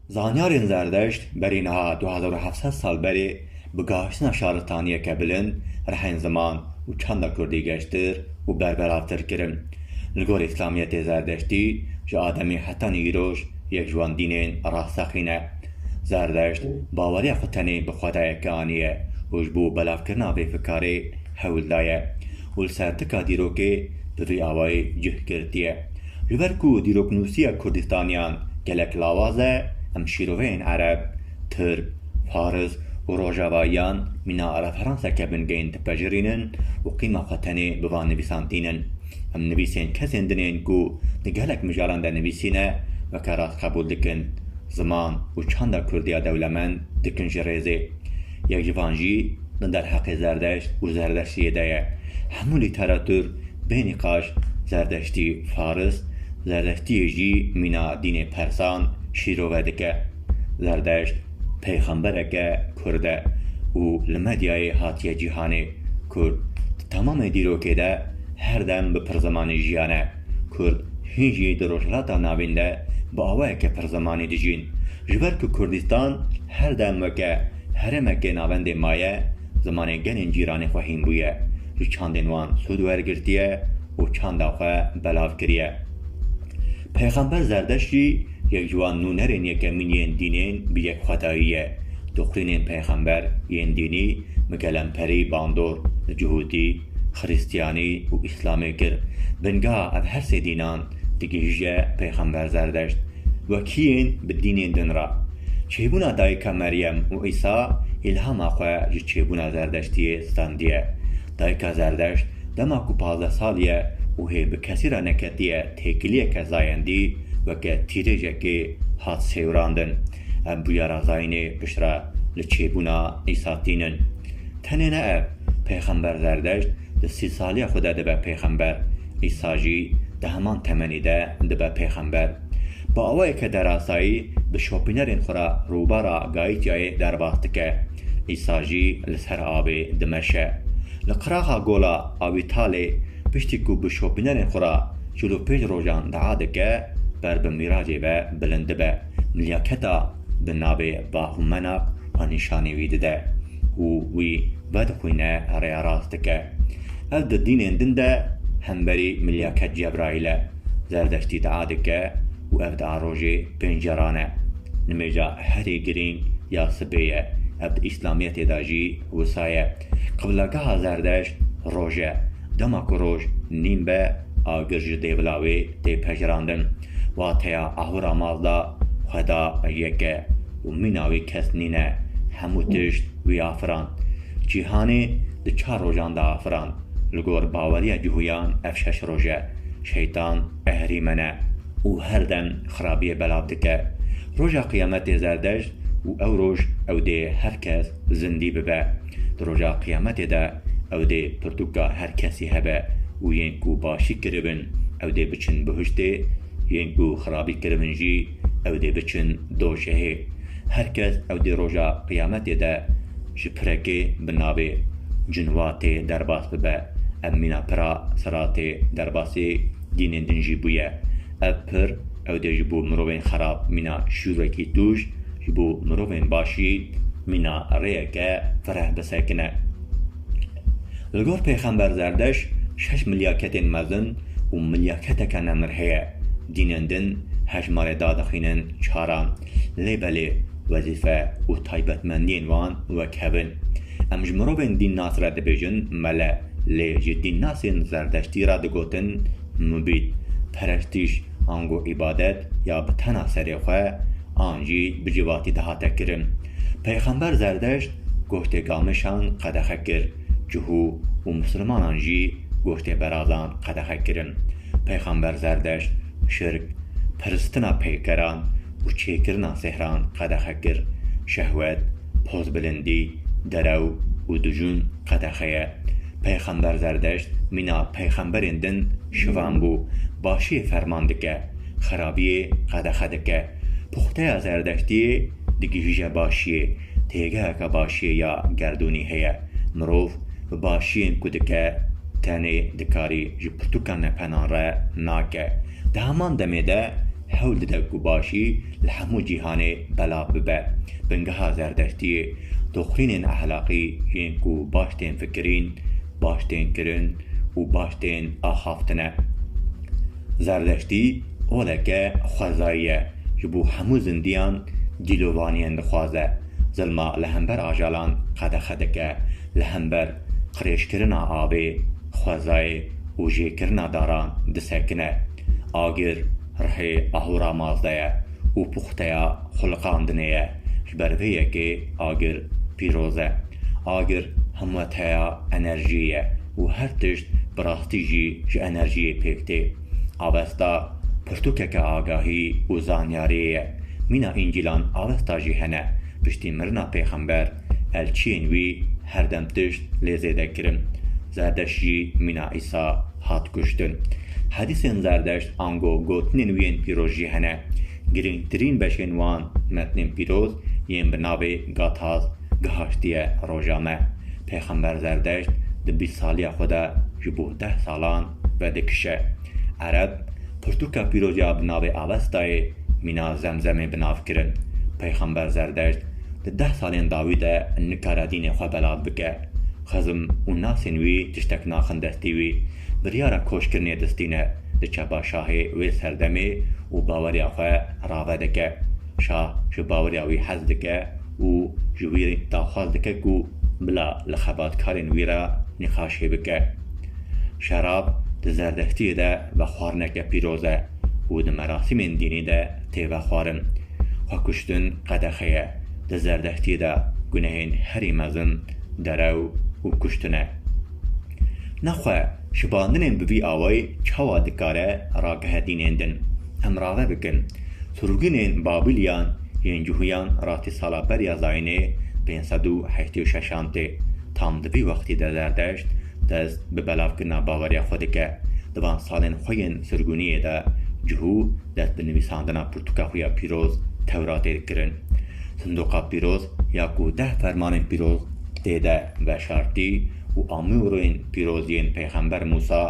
Zanyarên Zerdeşt berî niha du hezar û heft sed sal berê bi gaştina şaristaniyeke bilind rehên ziman û çanda kurdî geştir û berbelavtir kirin. Li gor îslamiyetê Zerdeştî ji ademî heta nîroj yek ji wan dînên rasteqîn e. Zerdeşt baweriya xwe tenê bi xwedayeke anî ye û ji bo belavkirina vê fikarê hewl daye. û li ser tika dîrokê bi vî awayî cih girtiye, Ji ber ku dîroknûsiya Kurdistaniyan gelek lawaz e, em şîroveyên ereb, tirk, faris û rojavayiyan mîna referanseke bingehîn dipejirînin û qîma xwe tenê bi van nivîsan tînin. Em nivîsên kesên din ên ku di gelek mijaran de nivîsîne weke rast qebûl dikin, ziman û çanda Kurdiya dewlemend dikin ji rêzê. Yek ji van jî li derheqê Zerdeşt û Zerdeştiyê de ye. Hemû lîteratur bê nîqaş Zerdeştî Faris, Zerdeştiyê jî mîna dînê Persan şîrove dike. Zerdeşt peyxembereke Kurd e û li medyayê hatiye cîhanê. Kurd di temamê dîrokê de her dem bi pirzimanî jiyane. Kurd hîn jî di Rojhilata Navîn de bi awayeke pirzimanî dijîn. Ji ber ku Kurdistan Her dem weke herêmekê navendê maye, zimanê gelên cîranê xwe hîn bûye, ji çandên wan sûd wergirtiye û çanda xwe belav kiriye. Pêxember Zerdeşt jî yek ji wan nûnerên yekemîn yên dînên bi yekxwedayî ye. Dixwînên pêxember yên dînî bi kelemperî bandor, bi cihûtî, Xrîstiyanî û Îslamê kir. Binga ev her sê dînan digihîje Peyxember Zerdeşt wekîyên bi dînên din re. Çêbûna Dayika Meryem û Îsa îlhama xwe ji çêbûna Zerdeştiyê standiye. Dayika Zerdeşt dema ku pazdeh sal ye û hê bi kesî re neketiye têkiliyeke zayendî weke tîrêjekê hat sêwirandin. Ev bûyera zayînê piştre li çêbûna Îsa tînin. Tenê ne ev. Pêxember Zerdeşt di sî saliya xwe de dibe pêxember. Îsa jî di heman temenî de dibe pêxember. Bi awayeke derasayî bi şopînerên xwe re rûbara Gaîtyayê derbas dike. Îsa jî li ser avê dimeşe. Li qiraxa Gola Awîtalê piştî ku bi şopînerên xwe re çil û pênc rojan dia dike, ber bi mîracê ve bilind dibe. Milyaketa bi navê Vahumenak xwe nîşanî wî dide. Ku wî vedixwîne rêya rast dike. Ev di dînên din de hemberî Milyaket Cebraîl e. Zerdeştî dua dike û ev dua rojê pênc caran e. Nimêja herî girîng ya sibê ye. Ev di Îslamiyetê de jî wisa ye. Qiblegeha Zerdeşt roj e. Dema ku roj nîm be, Agir ji dê bila wê tê pejirandin. Wateya ahura mal de xweda yek e û mîna wê kes nîne. Hemû tişt wî afirand. Cîhanê di çar rojan de afirand. Li gor baweriya Cihûyan ev şeş roj e. Şeytan ehrîmen e û her dem xirabiyê belav dike. Roja qiyametê zerdej û ew roj ew dê her kes Zindî bibe. Di roja qiyametê de ew dê pirtûka her kesî hebe û yên ku başî kiribin ew dê biçin bihiştê, yên ku xirabî kiribin jî ew dê biçin doşehê. Her kes ew dê roja qiyametê de ji pirekê bi navê cinwatê derbas bibe. Ev mîna pira siratê derbasî dînên din jî bûye. Ev pir ew dê ji bo mirovên xerab mîna şûrekî tûj, ji bo mirovên başî mîna rêyeke fereh bisekine. Li gor pêxember Zerdeş şeş milyaketên mezin û milyaketeke nemir heye. Dînên din hejmarê dadixînin çaran, lê belê wezîfe û taybetmendiyên wan wek hev in. Em ji mirovên dînnas re dibêjin mele, lê ji dînnasên Zerdeştî re digotin Nûbît, perestîş ango îbadet ya bi tena serê xwe an jî bi civakî dihate kirin. Peyxember Zerdeşt goştê gamişan qedexe kir, cihû û misilmanan jî goştê berazan qedexe kirin. Peyxember Zerdeşt şirk, pirstina peykeran û çêkirina sihran qedexe kir. Şehwet, Pozbilindî, derew û dijûn qedexeye. Peyxember Zerdeşt mîna peyxemberên din şivan bû. Başiyê ferman dike, xerabiyê qedexe dike. Puxteya Zerdeştiyê digihîje başiyê. Têgeheke başiyê ya gerdûnî heye. Mirov bi başiyên ku dike tenê dikarî ji pirtûka nepenan re nake. Di heman demê de hewl dide ku başî li hemû cîhanê belav bibe. Bingeha Zerdeştiyê, doxînên ehlaqî yên ku baş tên fikirîn, baş tên kirin û baş tên axaftin e. Zerdeştî oleke xwezayî ye, ji bo hemû zindiyan dîlovaniyên dixwaze, zilma li hember ajalan qedexe dike, li hember qirêjkirina avê, xwezayê û jêkirina daran disekine. Agir rihê Ahûramaz de ye û puxteya xulqandinê ye. Ji ber vê yekê agir pîroz e. Agir hemweteya enerjiyê ye û her tişt bi rastî jî ji enerjiyê pêk tê. Avesta pirtûkeke agahî û zanyariyê ye. Mîna Încîlan Avesta jî hene. Piştî mirina pêxember, elçiyên wî her dem tişt lê zêde kirin. Zerdeşt jî mîna Îsa. hat kuştin. Hedîsên Zerdeşt ango gotinên wî yên pîroz jî hene. Girîngtirîn beşên wan metnên pîroz yên bi navê Gathas gihaştiye roja me. Pêxember Zerdeşt di bîst saliya xwe de ji bo deh salan vedikişe. Ereb pirtûka pîroz ya bi navê Avestayê mîna Zemzemê bi nav kirin. Pêxember Zerdeşt di deh salên dawî de nikare dînê xwe belav bike. Xizm û nasên wî tiştek naxin destî wî. Biryara koçkirinê distîne, diçe ba şahê wê serdemê û baweriya xwe rave dike. Şah ji baweriya wî hez dike û ji wî daxwaz dike ku bila li xebatkarên wî re nîqaşê bike. Şerab di zerdestiyê de vexwarineke pîroz e û di merasîmên dînî de tê vexwarin. Xwe kuştin qedexe ye. Di Zerdehtiyê de gunehên herî mezin derew û kuştin e. Nexwe şibandinên bi vî awayî çawa dikare ragihe dînên din? Em rave bikin. Surgûnên Babîliyan yên Cuhûyan ratî sala beriya zayînê pênc sed û heştê û şeşan tê. Tam di vî wextî de Zerdeşt Dest bi belavkirina baweriya xwe dike. Di van salên xwe yên sirgûniyê de cihû dest bi nivîsandina pirtûka xwe ya pîroz Tewratê dikirin. Sindoqa pîroz ya ku deh fermanên pîroz tê de veşartî û amûrên pîroz yên peyxember Mûsa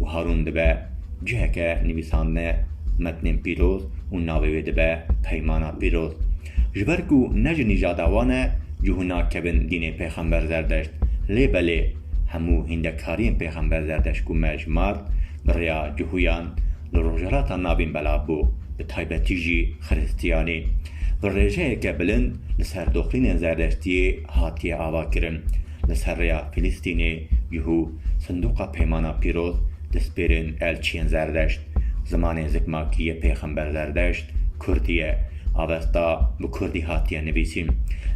û Harûn dibe ciheke nivîsandine metnên pîroz û navê wê dibe Peymana Pîroz. Ji ber ku ne ji nîjada wan e, cû nakevin dînê Pêxember Zerdeşt, lê belê hemû hîndekariyên Pêxember Zerdeşt ku me ji mar bi rêya cûhûyan li Rojhilata Navîn belav bû, bi taybetî jî Xiristiyanî, bi rêjeyeke bilind li ser doxînên Zerdeştiyê hatiye avakirin. Li ser rêya Filistînê cûhû Sinduqa Peymana Pîroz dispêrên elçiyên Zerdeşt. Zimanê zikmakî yê Pêxember Zerdeşt Kurdî ye. Avesta bi Kurdî hatiye nivîsîn.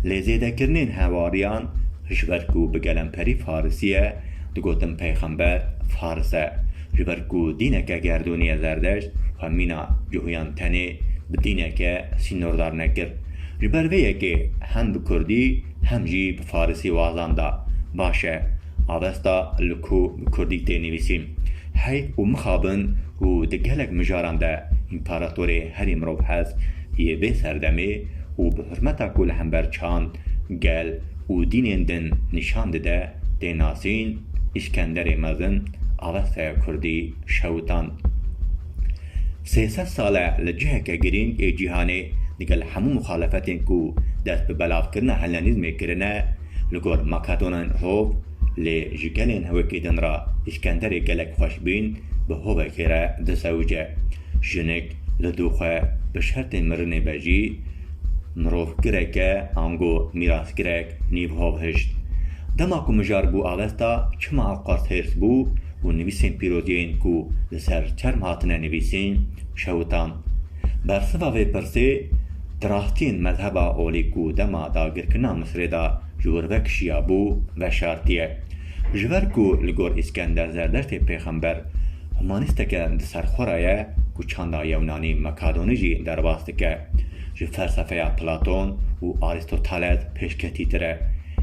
Lê zêdekirinên hewariyan ji ber ku bi gelemperî Farisî ye, digotin Pêxember Faris e. Ji ber ku dîneke gerdûnî ye Zerdeşt xwe mîna cihûyan tenê bi dîneke sînordar nekir. Ji ber vê yekê hem bi Kurdî hem jî bi Farisî wazan da. Baş e, Avesta li ku bi Kurdî tê nivîsîn? Hey û mixabin ku di gelek mijaran de împaratorê herî mirovhest yê vê serdemê û bi hurmeta ku li hember çand, gel û dînên din nîşan dide tê nasîn, Îskenderê Mezin, Avestaya Kurdî, şewitand. Sê sed sal e li ciheke girîng ê cîhanê digel hemû muxalefetên ku dest bi belavkirina Hellenîzmê kirine li gor Makedonên Rov, Lê ji gelên wekî din re Îskenderê gelek xweş bîn, bi hovekê re disewice. Jinik li dû xwe bi şertê mirinê be jî mirovgirek e ango mîrasgirek nîv hov hişt. Dema ku mijar bû avesta çima ew qas hêrs bû û nivîsên pîroziyên ku li ser çerm hatine nivîsîn şewitan. Bersiva vê pirsê, di rastiyên mezheba olî ku dema dagirkirina Misirê de ji wir vekişiya bo veşartiye. Ji ber ku li gor Îskender Zerdeştê pêxember humanîsteke di ser xwe re ye ku çanda yewnanî Makadonî jî derbas dike, ji felsefeya Platon û Arîstoteles pêşketîtir e.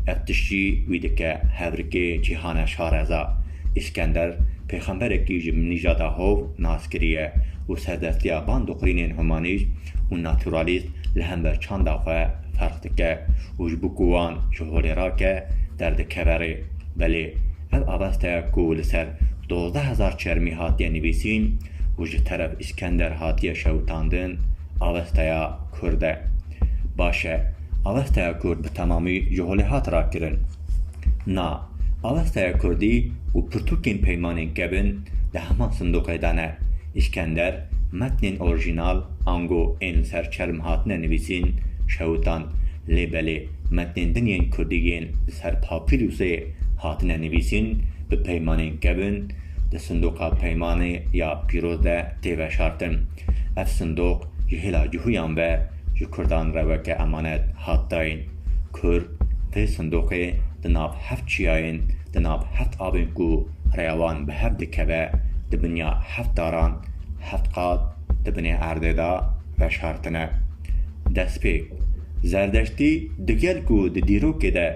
Ev tişt jî wî dike hevrikê cîhane şareza. Îskender pêxemberekî ji nîjada hov nas kiriye û serdestiya van dixwîrînên humanîst û naturalîst li hember çanda xwe ferq dike û ji bo ku wan ji holê rake derdikeve rê. Belê ev aveste ku li ser dozdeh hezar çermî hatiye nivîsîn û ji teref Îskender hatiye şewitandin avesteya Kurd e. Baş e, avesteya Kurd bi temamî ji holê hat rakirin. Na, Avestaya Kurdî û pirtûkên peymanên kevin di heman sindoqê de ne. Îskender, metnên orîjînal, ango ên li ser çerm hatine nivîsîn, şewitand. Lê belê metnên din yên Kurdî yên li ser papîrûsê hatine nivîsîn, bi peymanên kevin, di sindoqa peymanê ya pîroz de tê veşartin. Ev sindoq ji hêla cihûyan ve ji Kurdan re weke emanet hat dayîn. Kurd tê sindoqê di nav heft çiyayên, di nav heft avên ku rêya wan bi hev dikeve, di binya heft daran, heft qat di binê erdê de veşartine. Destpêk, Zerdeştî digel ku di dîrokê de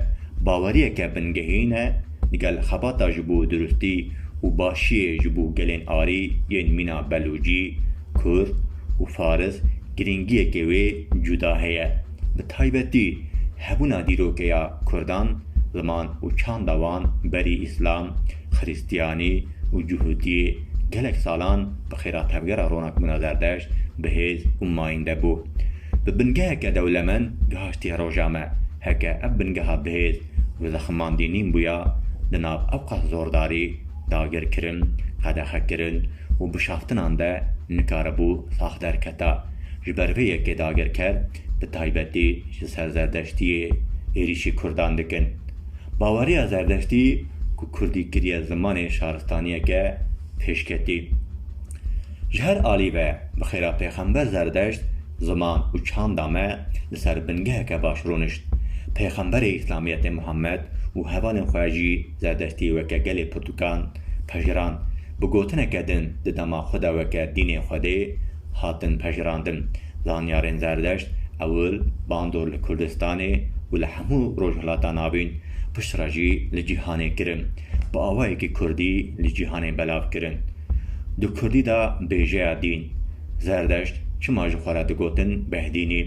baweriyeke bingehîn e, digel xebata ji bo durustî û başiyê ji bo gelên arî yên mîna Belûcî, Kurd û Faris girîngiyekê wê cuda heye. Bi taybetî hebûna dîrokeya Kurdan, ziman û çanda wan berî Îslam, Xirîstiyanî û Cûhûtiyê gelek salan bi xêra tevgera ronakbûna Zerdeşt bihêz û mayînde bû. Bi bingeheke dewlemend gihiştiye roja me. Heke ev bingeha bihêz û zeximandî nîn bûya, di nav ewqas zordarî, dagirkirin, qedexekirin, û bişaftinan de nikaribû sax derketa. Ji ber vê yekê dagirker bi taybetî ji ser Zerdeştiyê êrîşî Kurdan dikin. Baweriya Zerdeştî ku Kurdî kiriye zimanê şaristaniyeke pêşketî. Ji her alî ve bi xêra Pêxember Zerdeşt ziman û çanda me li ser bingeheke baş rûnişt. Pêxemberê Îslamiyetê Muhammed û hevalên xwe jî Zerdeştî weke gelê pirtûkan pejirand. bi gotineke din di dema xwe de weke dînê Xwedê hatin pejirandin. Zanyarên Zerdeşt ewil bandor li Kurdistanê û li hemû Rojhilata Navîn, piştre jî li cîhanê kirin. Bi awayekî Kurdî li cîhanê belav kirin. Di Kurdî de bêjeya dîn, Zerdeşt çima ji xwe re digotin Behdînî?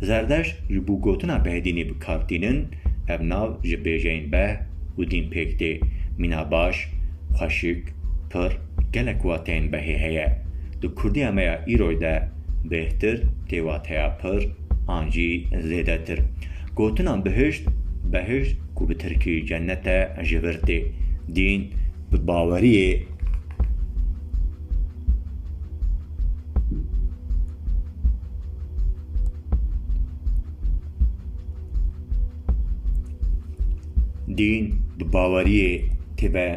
Zerdeşt ji bo gotina Behdînî bi kar tînin, ev nav ji bêjeyên beh û dîn pêk tê, mîna baş, Xweşik, pir, gelek wateyên behê heye. Di kurdiya me ya îroy de bêhtir tê wateya pir an jî zêdetir. Gotina bihişt, behişt ku bi tirkî cennet e ji vir tê. Dîn bi baweriyê Dîn di baweriyê têbe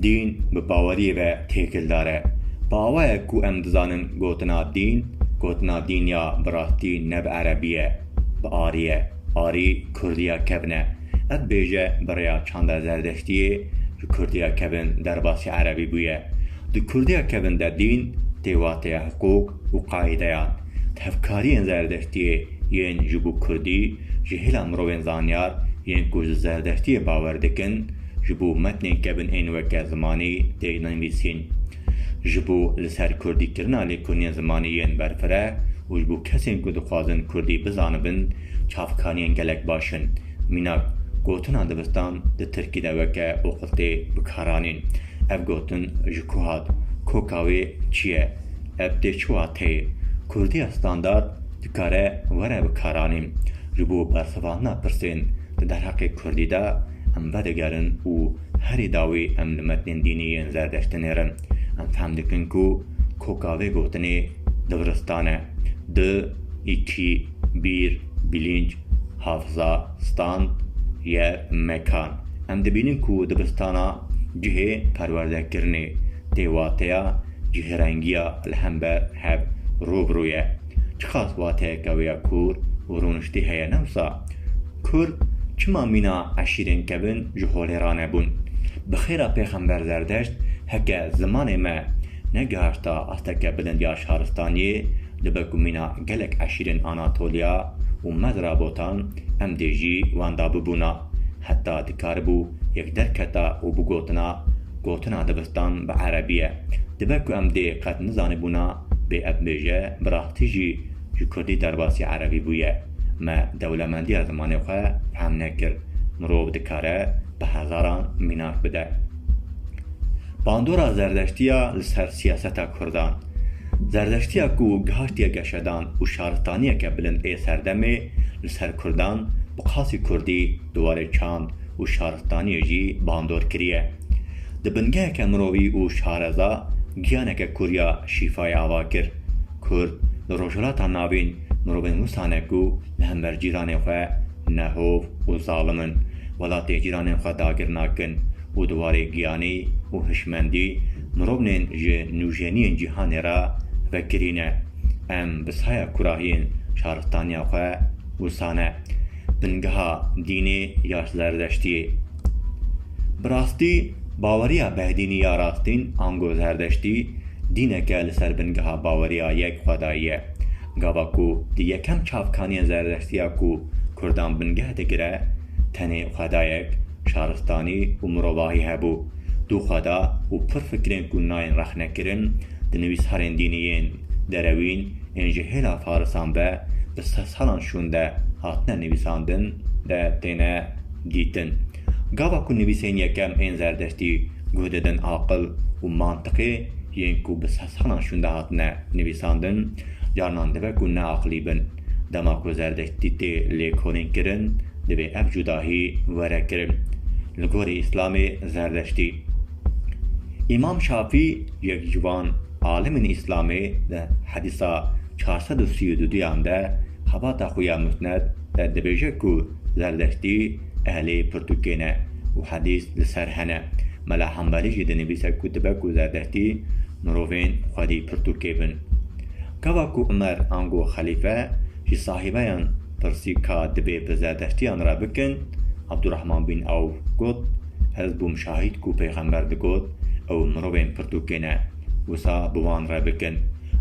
Dîn bi baweriyê ve têkildar e. Bawer ku em dizanin gotina dîn, gotina dîn ya bi rastî ne bi erebî ye, bi arî ye. Arî kurdî ya kevn e. Ev bêje bi rêya çanda Zerdeştiyê ji Kurdiya kevin derbasî Erebî bûye. Di Kurdiya kevin de dîn tê wateya hiqûq û qaîdeya. Tevkariyên Zerdeştiyê yên ji bo Kurdî ji hêla mirovên zanyar yên ku ji Zerdeştiyê bawer dikin ji bo metnên kevin ên weke zimanî tê nivîsîn. Ji bo li ser Kurdîkirina lêkolînên zimanî yên berfireh û ji bo kesên ku dixwazin Kurdî bizanibin Çavkaniyên gelek baş in. Mînak, gotina dibistan di tirkî de weke oqiltê bi kar anîn. Ev gotin ji ku hat? Koka wê çi ye? Ev tê çi wateyê? Kurdiya standard dikare were bi kar anîn. Ji bo bersivandina pirsên di derheqê kurdî de em vedigerin û herî dawî em li metnên dînî yên zerdeşt dinêrin. Em fehm dikin ku koka vê gotinê dibiristan e. Di, î, tî. Bîr, bilînc, hafza, stand, ye, mekan. Em dibînin ku dibistana cihê perwerdekirinê tê wateya cihêrengiya li hember hev rû bi rû ye. Çiqas wateyeke wê ya kûr û rûniştî heye ne wisa? Kurd çima mîna eşîrên kevin ji holê re nebûn? Bi xêra pêxember Zerdeşt heke zimanê me negihişta asteke bilind ya şaristaniyê, Li ber ku mîna gelek eşîrên Anatolya û Medra botan, em dê jî wan da bibûna. Heta dikaribû yek derketa û bigotina, Gotina dibistan bi erebî ye. Li ber ku em dê qet nizanibûna bê ev bêje, bi rastî jî ji kurdî derbasî erebî bûye. Me dewlemendiya zimanê xwe fehm nekir. Mirov dikare bi hezaran mînak bide. Bandora zerdeştiya li ser siyaseta kurdan. Zerdeştiya ku gihaştiye geşedan û şaristaniyeke bilind ê serdemê li ser kurdan bi qasî kurdî di warê çand û şaristaniyê jî bandor kiriye. Di bingeheke mirovî û şareza giyaneke kur ya şîfayê ava kir. Kurd li Rojhilata Navîn mirovên wisa ne ku li hember cîranê xwe nehov û zalim in, welatê cîranên xwe dagir nakin. û di warê giyanî û hişmendî mirovnên ji nûjeniyên cîhanê re vekirî ne. Em bi saya kurahiyên şaristaniya xwe wisa ne. Bingeha dînê ya zerdeştiyê. Bi rastî baweriya behdînî ya rastîn ango zerdeştî dîneke li ser bingeha baweriya yek xwedayî ye. Gava ku di yekem çavkaniyên zerdeştiya ku kurdan bingeh digire tenê xwedayek, şaristanî û mirovahî hebû, du xweda û pir fikirên ku nayên rexnekirin di nivîsarên dînî yên derewîn ên ji hêla farisan ve bi sedsalan şûn de hatine nivîsandin de têne dîtin. Gava ku nivîsên yekem ên zerdeştî guh didin aqil û mantiqê yên ku bi sedsalan şûn de hatine nivîsandin, carnan dibe ku neaqilî bin. Dema ku zerdeştî tê lêkolînkirin, divê ev cudahî were kirin. Li gorî Îslamê zerdeştî. Îmam Şafî yek ji van alimên Îslamê di hedîsa çar sed û sî û du duyan de xebata xwe ya Musned de dibêje ku zerdeştî ehlê pirtûkê ne û hedîs li ser hene. Mela Hembelî jî dinivîse ku dibe ku zerdeştî mirovên xwedî pirtûkê bin. Gava ku Umer ango xelîfe ji sahibeyan pirsî ka dibê bi Zerdeştiyan re bikin, Abdurahman bin Awf got, Ez bûm şahîd ku peyxember digot, ew mirovên pirtûkê ne, wisa bi wan re bikin.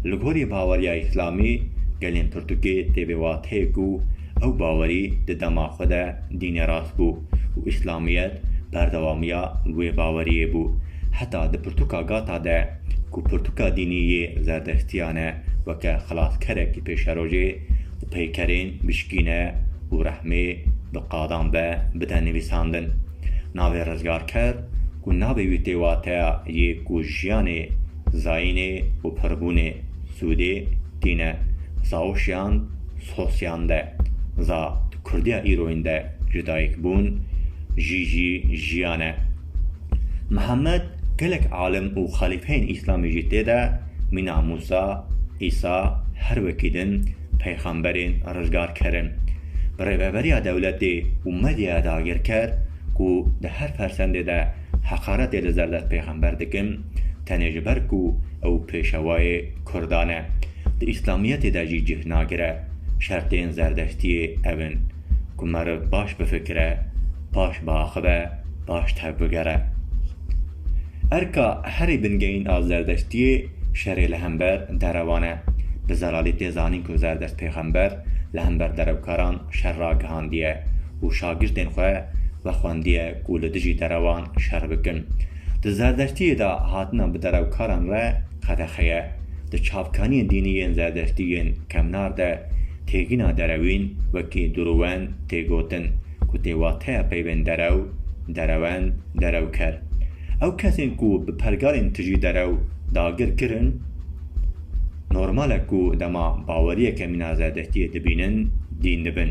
Li gorî baweriya îslamî gelên pirtûkê tê vê wateyê ku ew bawerî di dema xwe de dînê rast bû û îslamiyet berdewamiya wê baweriyê bû heta di pirtûka Gata de ku pirtûka dînî yê zerdeştiyan e weke xilaskerekî pêşerojê û peykerên bişkîne û rehmê bi qadan ve bide nivîsandin. Navê rizgarker ku navê wî tê wateya yê ku jiyanê, zayînê û pirbûnê sûdê tîne. Zaoşiyan Sosyan de za di kurdiya îroyîn de ji dayikbûn jî jî jiyan e. Mihemed gelek alim û xelîfeyên îslamî jî tê de mîna Mûsa, Îsa, her wekî din peyxemberên rizgarker in. Bi rêveberiya dewletê û medyaya dagirker ku di her fersendê de heqaretê li zerdest peyxember dikin, tenê ji ber ku ew pêşewayê kurdan e, di îslamiyetê de jî cih nagire, şertên zerdeştiyê ev in. ku meriv baş bifikire, paş biaxive, paş tevbigere. Erka herî bingehîn a Zerdeştiyê şerê li hember derewan e. Bi zelalî tê zanîn ku Zerdeşt pêxember li hember derewkaran şer ragihandiye û şagirtên xwe vexwendiye ku li dijî derewan şer bikin. Di Zerdeştiyê de hatina bi derewkaran re qedexe ye. Di çavkaniyên dînî yên Zerdeştî yên kevnar de Têgina derewîn wekî durûwend tê gotin ku tê wateya peyvên derew, derewend, derewker. Ew kesên ku bi pergalên tijî derew dagir kirin, normal e ku dema baweriyeke mîna zerdeştiyê dibînin, dîn dibin.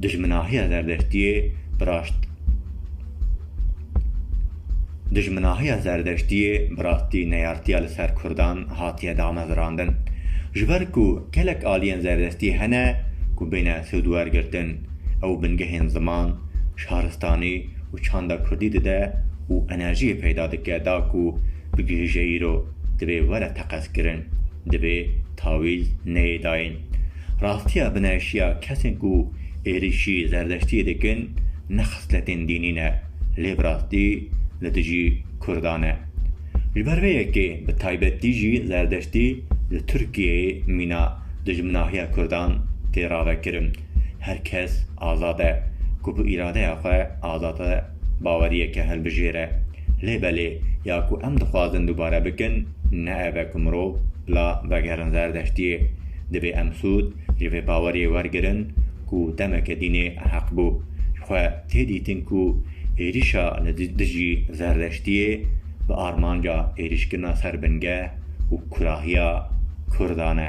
Dijminahiya zerdeştiyê bi raşt. Dijminahiya Zerdeştiyê bi rastî neyartiya li ser Kurdan hatiye damevirandin. Ji ber ku gelek aliyên Zerdestî hene ku bêne sûdwergirtin, ew bingehên ziman, şaristanî û çanda Kurdî dide û enerjiyê peyda dike da ku bigihije îro dibê were teqezkirin, dibê tawîz neyê dayîn. Rastiya bineşiya kesên ku êrîşî Zerdeştiyê dikin, Ne xisletên dînî ne, lê bi rastî li dijî Kurdan e. Ji ber vê yekê bi taybetî jî Zerdeştî li Tirkiyeyê mîna dijminahiya Kurdan tê ravekirin. Her kes azad e ku bi îradeya xwe azade baweriyeke hilbijêre. Lê belê ya ku em dixwazin dubare bikin ne ev e ku mirov bila vegerin Zerdeştiyê. Divê em sûd Ji vê bawerê wergirin ku demeke dînê heq bû. Ji xwe tê dîtin ku êrîşa li dijî Zerdeştiyê bi armanca êrîşkirina ser bingeh û kurahiya Kurdan e.